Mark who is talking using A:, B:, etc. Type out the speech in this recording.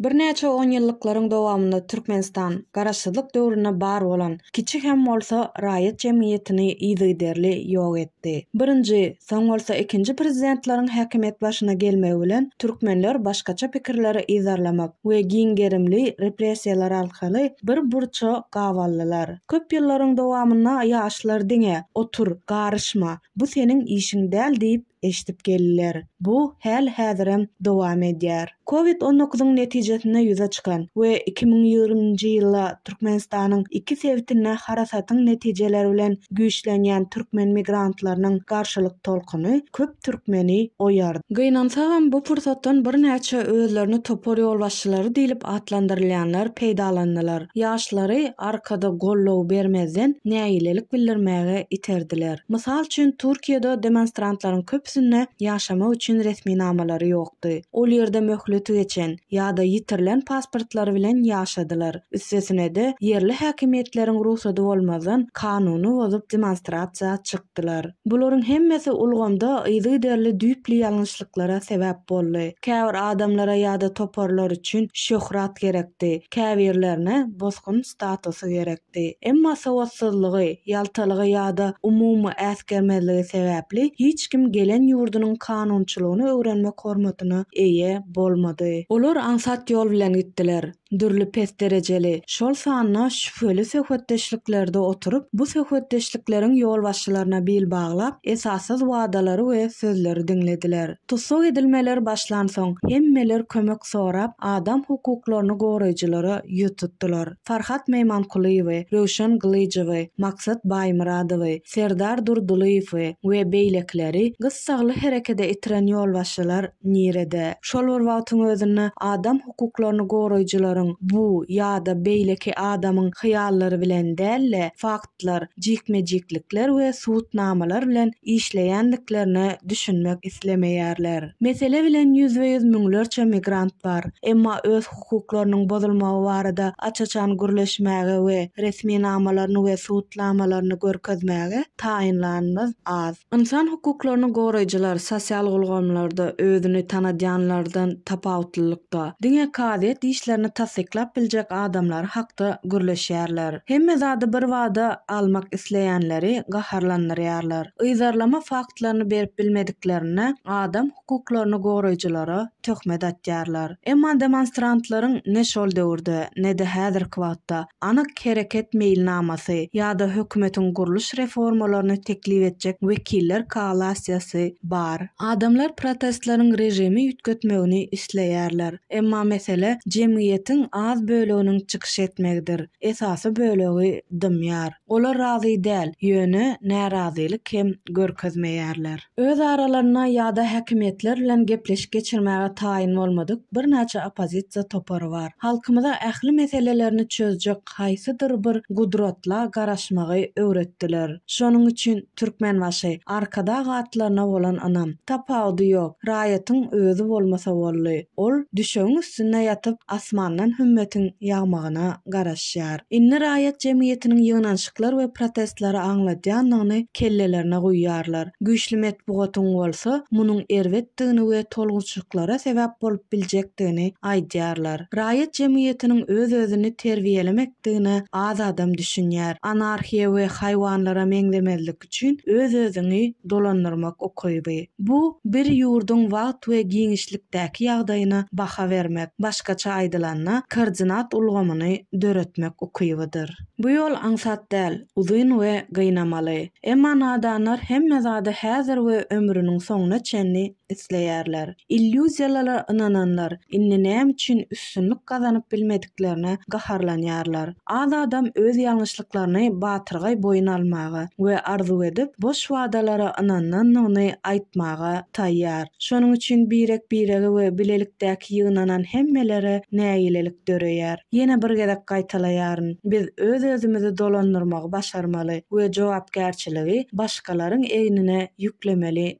A: Birnäçe onýyllyklaryň dowamynda Türkmenistan Garaşsyzlyk döwründe bar bolan, kiçi hem bolsa, raýat jemgyýetini yzygiderli ýok etdi. Birinji Soň bolsa ikinji prezidentleriň häkimiýet başyna gelmegi bilen türkmenler başgaça pikirleri yzarlamak we giň gerimli repressiýalar arkaly bir burça gabaldylar. Köp ýyllaryň dowamynda ýaşlar diňe, Otur, garyşma, bu seniň işiň däl diýip eşidip geldiler. Bu häl-häzirem dowam edýär. Covid on dokuzyň netijesinde ýüze çykan we iki müň ýigriminji ýylda Türkmenistanyň iki sebitinde harasatyň netijeleri bilen güýçlenýän türkmen migrantlarynyň garşylyk tolkuny köp türkmeni oýardy. Gynansagam, bu pursatdan birnäçe özlerini topar ýolbaşçylary diýlip atlandyrylýanlar peýdalandylar. Ýaşlary arkada goldaw bermezden nägilelik bildirmäge iterdiler. Mysal üçin, Türkiýede demonstrantlaryň köpüsinde ýaşamak üçin resminamalary ýok. çykdy, ol ýerde möhleti geçen ýa-da ýitirilen pasportlary bilen ýaşadylar, üstesine-de, ýerli häkimiýetleriň rugsady bolmazdan kanuny bozup demonstrasiýa çykdylar. Bularyň hemmesi ulgamda yzygiderli düýpli ýalňyşlyklara sebäp boldy. Käbir adamlara ýa-da toparlar üçin şöhrat gerekdi, käbirlerine bosgun statusy gerek. etdi. Emma sowatsyzlygy, ýaltalygy ýa-da umumy äsgermezligi sebäpli hiç kim gelen ýurdunyň kanunçylygyny öwrenmek hormatyna eýe bolmady. Olar aňsat ýol bilen gitdiler. Dürli pes derejeli, şol sanda şübheli söhbetdeşliklerde oturyp, bu söhbetdeşlikleriň ýolbaşçylaryna bil baglap, esassyz wadalary we sözleri diňlediler. Tussag edilmeler başlansoň, hemmeler kömek sorap, adam hukuklaryny goraýjylara ýüz tutdular. Farhat Meýmankulyýewi, Röwşen Gylyjowy, Maksat Baýmyradowy, Serdar Durdylyýewi we beýlekileri gyssagly herekede itiren ýolbaşçylar nirede? Şol bir wagtyň özünde adam hukuklaryny goraýjylaryň bu ýa-da beýleki adamyň hyýallary bilen däl-de, fakt, şertler, jikme-jiklikler we subutnamalar bilen işleýändiklerine düşünmek islemeýärler. Mesele bilen ýüzbe-ýüz müňlerçe migrant bar, emma öz hukuklarynyň bozulmagy barada aç-açan gürleşmäge we resminamalaryny we subutnamalaryny görkezmäge taýynlanymyz az. Ynsan hukuklaryny goraýjylar sosial ulgamlarda özüni tanadýanlardan tapawutlylykda, diňe kazyýet işlerini tassyklap biljek adamlary hakda gürleşýärler. Hemme zady bir bada almak isleýänleri gaharlandyrýarlar. Yzarlama faktlaryny berip bilmediklerine adam hukuklaryny goraýjylara töhmet atýarlar. Emma demonstrantlaryň ne şol döwürde, ne-de häzirki wagtda anyk hereket meýilnamasy ýa-da hökümetiň gurluş reformalaryny teklip etjek wekiller koalasiýasy bar. Adamlar protestleriň režimi üýtgetmegini isleýärler. Emma mesele jemgyýetiň az böleginiň çykyş etmegidir. Esasy bölegi dymýar. Olar razy däl, ýöne närazylyk hem görkezmeýärler. Öz aralarynda ýa-da häkimiýetler bilen gepleşik geçirmäge taýyn bolmadyk birnäçe oppozisiýa topary bar. Halkymyza ähli meselelerini çözjek haýsydyr bir gudratla garaşmagy öwretdiler. Şonuň üçin Türkmenbaşy, Arkadag atlaryna bolan ynam, tapawudy ýok, raýatyň özi bolmasa boldy. Ol düşegiň üstünde ýatyp, asmandan hümmetiň ýagmagyna. garaşýar. Indi raýat jemgyýetiniň ýygnanyşyklar we protestleri aňladýandygyny kellelerine guýýarlar. Güýçli metbugatyň bolsa munuň erbetdigini we tolgunyşyklara sebäp bolup biljekdigini aýdýarlar. Raýat jemgyýetiniň öz-özüni terbiýelemekdigine az adam düşünýär. Anarhiýa we haýwanlara meňzemezlik. etmek üçin öz-özüňi dolandyrmak ukyby. Bu bir ýurduň wagt we giňişlikdäki ýagdaýyna baha bermek, başgaça aýdylanda, koordinat ulgamyny döretmek ukybydyr. Bu ýol aňsat däl, uzyn we gynamaly. Emma nadanlar hemme zady häzir we ömrüniň soňuna çenli isleýärler. Illýuziýalara ynananlar indi näme üçin üstünlik gazanyp bilmediklerine gaharlanýarlar. Az adam öz ýalňyşlyklaryny batyrgaý boýun almaga we arzuw edip, boş wadalara ynanandygyny aýtmaga taýýar. Şonuň üçin birek-birege we bilelikdäki ýygnanan hemmelere nägilelik döreýär. Ýene bir gezek gaýtalaýaryn, biz öz-özümizi dolandyrmagy başarmaly we jogapkärçiligi başgalaryň egnine ýüklemeli